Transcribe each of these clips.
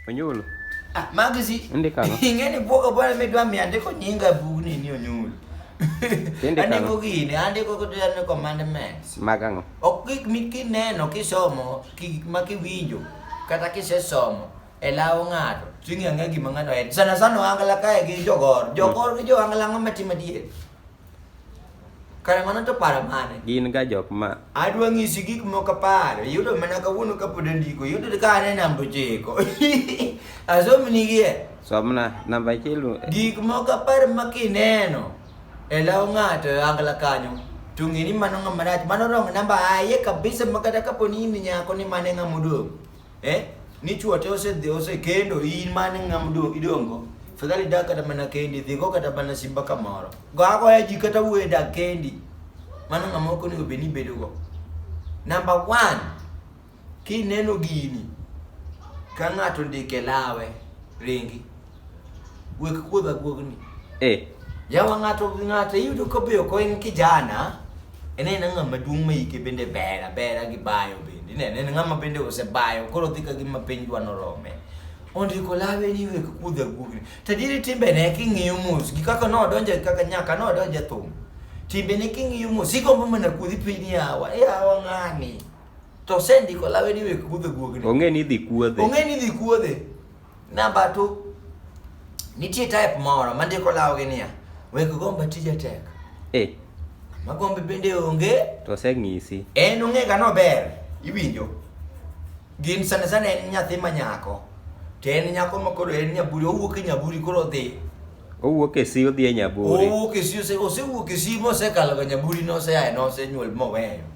Onyulo. Ah, magzi. Ndika no. Ingeni bwogo bwana medwa mi andiko nyinga bugni ni onyulo. Tinde kano. Andiko gini, andiko kutu yane commandments. Mag ang'o? Ok gik mikineno kisomo, gik ma kiwinjo, kata kisesomo e law ng'ato, ting'e ang'e gima ng'ato en. Sana sana ohangla kae gi jogor. Jogor gi johangla ang'o matimo adier? Kare mano to paro mane? Gin ga jok ma Adwa ng'isi gik moko apar. Yudo mana kawuono kapod andiko. Yudo ka an e namba ochiko. Asomnigie. somna namba achiel lu- Gik moko apar ma kineno e law ng'ato e angla kanyo. To ng'e ni mano ng'ama rach. Mano wrong namba aye kabisa ma kata kapo ni in nyako ni mane ng'ama odong'. eh ni chuo te ose dhi ose kendo in mane ng'am do idongo fadhali dak kata mana kendi dhigo kata mana simba kamoro go agoya ji kata wuoye dak kendi mano ng'ama ok onego bed ni ibedo go number one kineno gini ka ng'ato ndike lawe ringi Gwek kuodha guogni. Eh. Yawa ng'ato gi ng'ato iyudo ka be ok en kijana. En en ng'ama maduong' ma ike bende ber abera gi bayo bende. Ne en ng'ama bende osebayo koro dhi ka gima piny dwa norome. Ondiko lawe ni wek kuodha guogni. Tadiri timbe ne king'iyo mos gi kaka nodonje kaka nyaka nodonje thum. Timbe ne king'iyo mos igombo mana kuodhi piny yawa. Yawa ng'ani. To sendiko lawe ni wek kuodha guogni. Ong'e ni dhi kuodhe. Ong'e ni dhi kuodhe. Namba tu nitie type moro mandiko lawogi niya wek gomba tija tek eh. magombe bende onge to oseng'isi en ong'ega nober iwinjo gin sana sana en nyathi ma nyako to en nyako ma koro en nyaburi owuok e nyaburi koro odhi owuok e si odhi e nyaburi owuok e si osewuok e si mosekaloga nyaburi noseaye nosenyuol moweyo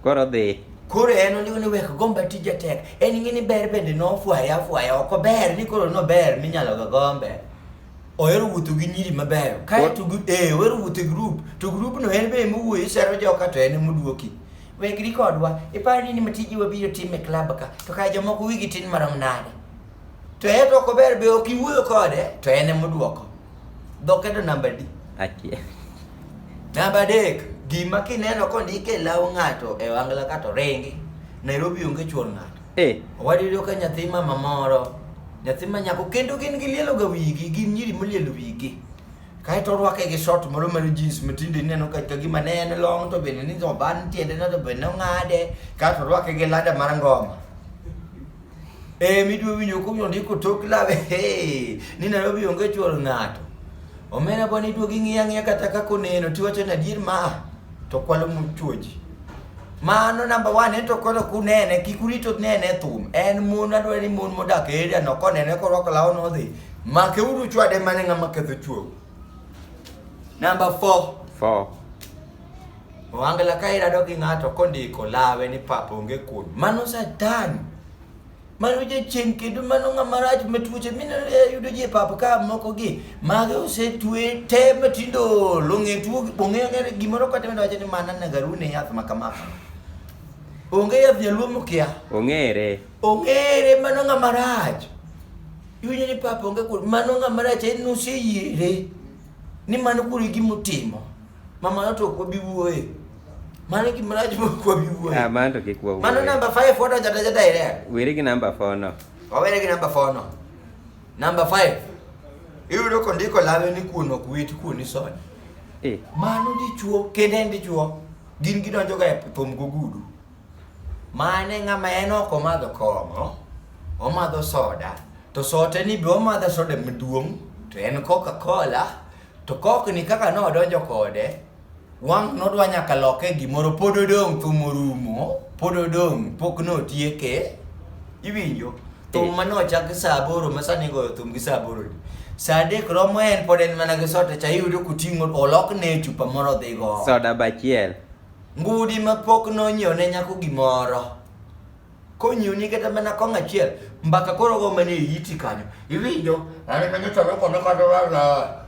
Koro dhi. Koro en onego ni wek gomba tije tek. En ng'e ni ber bende nofwaya afwaya ok ober ni koro nober minyalo ga gombe. Ohero wuotho gi nyiri mabeyo. Kae to gi- eh ohero wuotho e group. To group no en be ema owuoyo isero joka to en ema oduoki. Wegri kodwa. Iparo ni ma tiji wabiro timo e club ka. To kae jomoko wigi tin marom nade. To en to ok ober be ok iwuoyo kode to en ema oduoko. Dhokedo namba di. Akia. Namba dek, gima kineno kondike e law ng'ato e wangla kato ringi. Nairobi onge chuor ng'ato. Eh. Wadiyudo ka nyathi mama moro, nyathi ma nyako kendo gin gilielo ga wigi, gin nyiri molielo wigi. Kae to orwake gi short moro mar jeans matinde ineno ka gima ne en long to bende ni oban tiende no to bende ong'ade, kae to orwake gi lada mar ngoma. Eh, midwa winjo ko yondi ko tok lawe. Hey, ni Nairobi onge chuor ng'ato. Omena bwana iduogo ing'iya ng'iya kata kaka oneno tiwacho ni adier ma to kwalo muchuoji. Mano namba one ento koro kunene kik urito nene thum. En mon adwaro ni mon modak e area no konene korwako law nodhi. Make uru chwade mane ng'ama ketho chuo. Namba four. Four. Wangla ka irado gi ng'ato kondiko lawe ni pap onge kuon. Mano satan. Mano jachien kendo mano ng'ama rach ma tuoche mineno e, yudo ji e pap ka moko gi. Mage osetue te matindo long'e tuo ong'e ong'e gimoro kata medo wacho ni mana nagaru ne yath ma kama. Onge yath jaluo mokia. Ong'ere. Ong'ere mano ng'ama rach. Iwinjo ni pap onge kuon. Mano ng'ama rach en noseyiere. Ni mano kuri gimotimo. Mama yote uko bibu wewe. Mano ki mraj mo kwa bibu wewe. Ah, mano to kikwa wewe. Mano number 5 foto jata jata ile. Wiri ki number 4 no. Wawere ki number 4 no. Number 5. Iwe loko ndiko lawe ni kuno kuwiti kuni soni. Eh. Mano dichuo, kende ndichuo. Gin gidonjo ga e pom gugudu. Mane ng'ama en ok omadho kong'o, omadho soda, to sote ni be omadho soda maduong' to en Coca-Cola To kokni kaka nodonjo kode, wang' nodwa nyaka loke gimoro pod odong' thum orumo, pod odong' pok notieke. Iwinjo? Thum ma nochak sa aboro ma sani igoyo thum gi sa aboro ni. Sa adek romo en pod en mana gi sote cha iyudo kuting'o olokne chupa moro odhi go. Soda bachiel. Ngudi ma pok nonyiew ne nyako gimoro. konyuni kata mana kong achiel mbaka koro go mane iti kanyo iwinjo ani kanyo chalo kome kata wala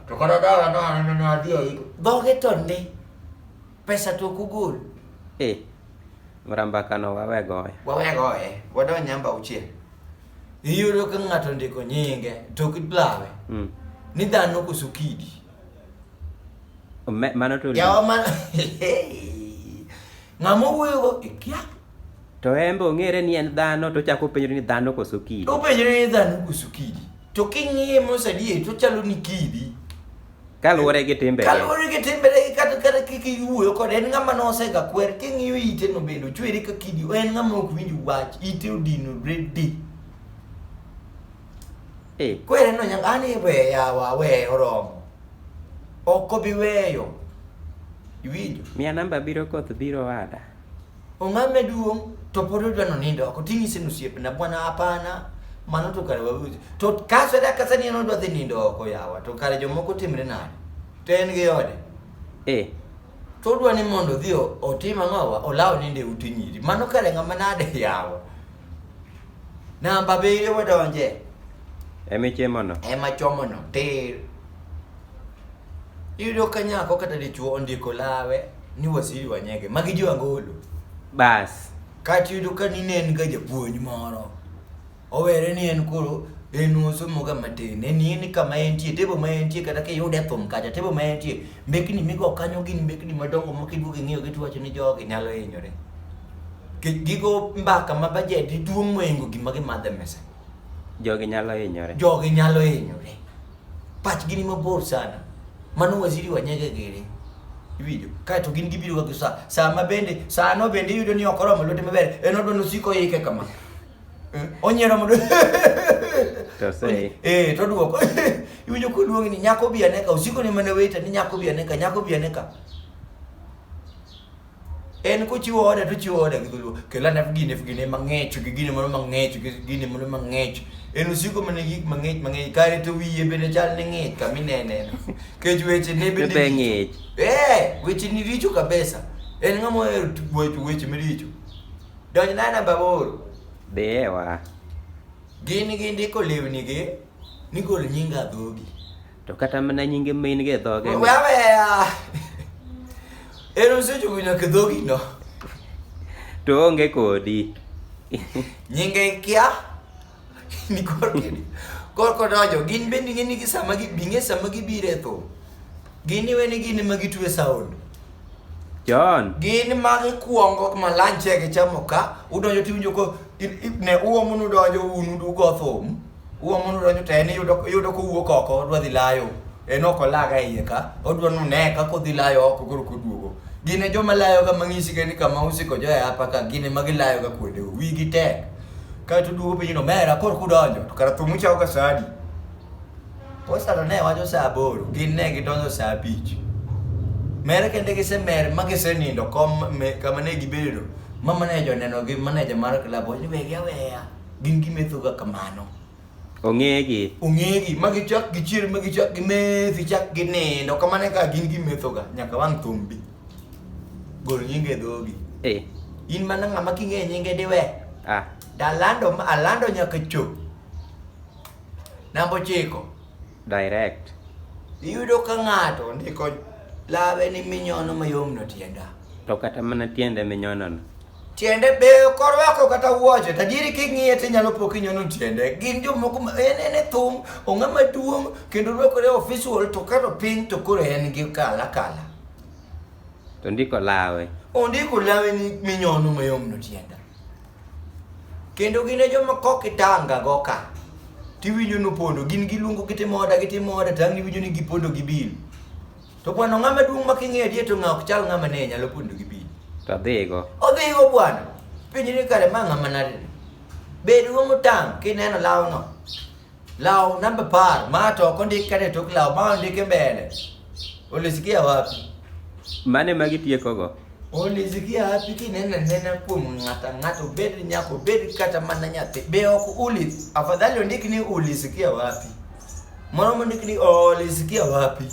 to kata dala na ani na adhi oiko dhoge to ndi pesa to kugol eh mramba kano wawe goye wawe goye wadon nyamba uchiel iyudo ka ng'ato ndiko nyinge to kidlawe mm. ni dhano koso kidi mano to yawa mano ng'ama wuoyo go ikia To embe ong'ere ni en dhano to chako penjore ni dhano koso kidi. To penjore ni dhano koso kidi. To king'iye mos adier to chalo ni kidi. Kaluwore gi timbe. Kaluwore gi timbe ne kata kata kik iwuoyo kode en ng'ama nosega kwer king'iyo ite no bende ochwere ka kidi en ng'ama ok winj wach ite odino redi. Eh. Kwere no nyaka ani we yawa we oromo. Ok obi weyo. Iwinjo? Mia namba biro koth biro ada. Ong'ame duong' to pod odwa nonindo oko ting'ise ni osiepna bwana hapana mano to kare wawinjo to kaso da kasa ni en odwa dhi nindo oko yawa to kare jomoko timre nade to en gi ode eh to odwa ni mondo odhi o- otim ang'owa olaw nindo e ute nyiri mano kare ng'ama nade yawa namba abiriyo wadonje emichemono ema chomono tir Iyudo ka nyako kata dichuo ondiko lawe ni wasiri wanyege magi jo angolo bas kati yudo ka nine en ga japuonj moro owere ni en koro en osomoga matin en ni kama entie tebo ma entie kata kiyude e thum kacha tebo ma entie mbekni migo kanyo gin mbekni madongo ma kiduogo ing'iyo gi tuwacho ni jogi nyalo hinyore gigo mbaka ma bajedi duong' mohingo gima gimadhe mesa jogi nyalo hinyore jogi nyalo hinyore pachgi ni mabor sana mano waziri wa nyege gere iwinjo kae to gin gibiro ga sa sa ma bende sa no bende yudo ni ok oromo lwete maber en odwa nosiko yike kama eh, onyiero mondo eh to duoko iwinjo ko duong ni nyako bi aneka osiko ni mana weta ni nyako bi aneka nyako bi aneka en kochiwo oda to ochiwo oda gi dholuo kelo ane gine gine mang'ech gi gine moro mang'ech gi gine moro mang'ech en osiko mana gik mang'ech mang'ech kare to wiye bende chal ni ng'ich kama ineneno kech weche ne bende Bebe ng'ich. eh weche ni richo kabisa en ng'ama ohero tu- weche weche maricho donj na namba aboro Dhiye wa. gin gindiko lewnigi ni gol nyinga dhogi To kata mana nyinge main ge dhoge. We aweya. En osechopo nyaka dhogi no. To onge kodi. Nyinge kia. Ni korki. Korko dojo gin bende ng'e ni gi sama gi binge sama gi bire tho. Gin iwe ni gin ma gitwe sound. John. Gin ma gikwongo ma lanche gi chamo ka udonjo tiwinjo ko ne uomo nudonjo unu dugo thum. Uwa mondo donjo to en yudo yudo kowuok oko odwa dhi layo. En ok olaga iye ka, odwa nune ka kodhi layo oko koro koduogo. Gin e joma layo ga mang'isi ga ni kama usiko jo e apa ka gin ema gilayo ga kuonde go. Wigi tek. Ka to duogo piny no mera koro kudonjo to kara thumu chao ga sadi. Postano ne wacho saa aboro, gin ne gidonjo saa abich. Mere kende gisemer ma gisenindo kom me, kama ne gibedo. Mama ne joneno gi maneja mar club wacho ni wegi aweya. gin gimethoga kamano ong'egi ong'egi ma gichak gichier ma gichak gimethi chak ginindo kamano ka gin gimethoga nyaka wang' thumbi gol nyinge e dhogi eh. in mana ng'ama king'eyo nyinge diwe ah. dalando alando nyaka chop namba ochiko direct iyudo ka ng'ato ndiko lawe ni minyono mayom no tienda to kata mana tiende minyonono tiende beyo korwako kata wuoche tajiri king'iye tinyalo po kinyono tiende gin jomoko en en e thum ong'a maduong' kendo rwakore official to kato piny to koro en gi kala kala to ndiko lawe ondiko lawe ni minyono mayomno tienda kendo gin e joma kok itanga go ka tiwinjo nopondo gin giluongo gitimo oda gitimo oda tang' iwinjo ni gipondo gi bil To bwana ng'ama duong' ma king'e adier to ng'a ok chal ng'ama ne nyalo pondo gi piny. To dhigo. Odhigo bwana. Piny ni kare ma ng'ama nade. Bed go motang' kineno lawno. Law namba par ma to ok ondik kare tok law ma ondike mbele. Ulisikia wapi? Mane ma gitiekogo? Ulisikia wapi kineno nena kuom ng'ata ng'ato bed nyako bed kata mana nyathi. Be ok ulis afadhali ondik ni ulisikia wapi? Mano mondikni olisikia oh, wapi?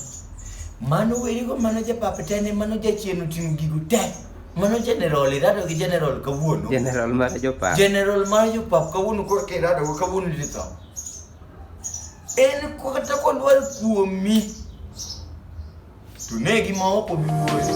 Mano werigo mano japap tene mano jachien oting'o gigo te. Mano general irado gi general kawuono. General mar jopap. General mar jopap kawuono koro kirado go kawuono litho. En kata kodwar kuomi. To negi ma ok obi wuoyo.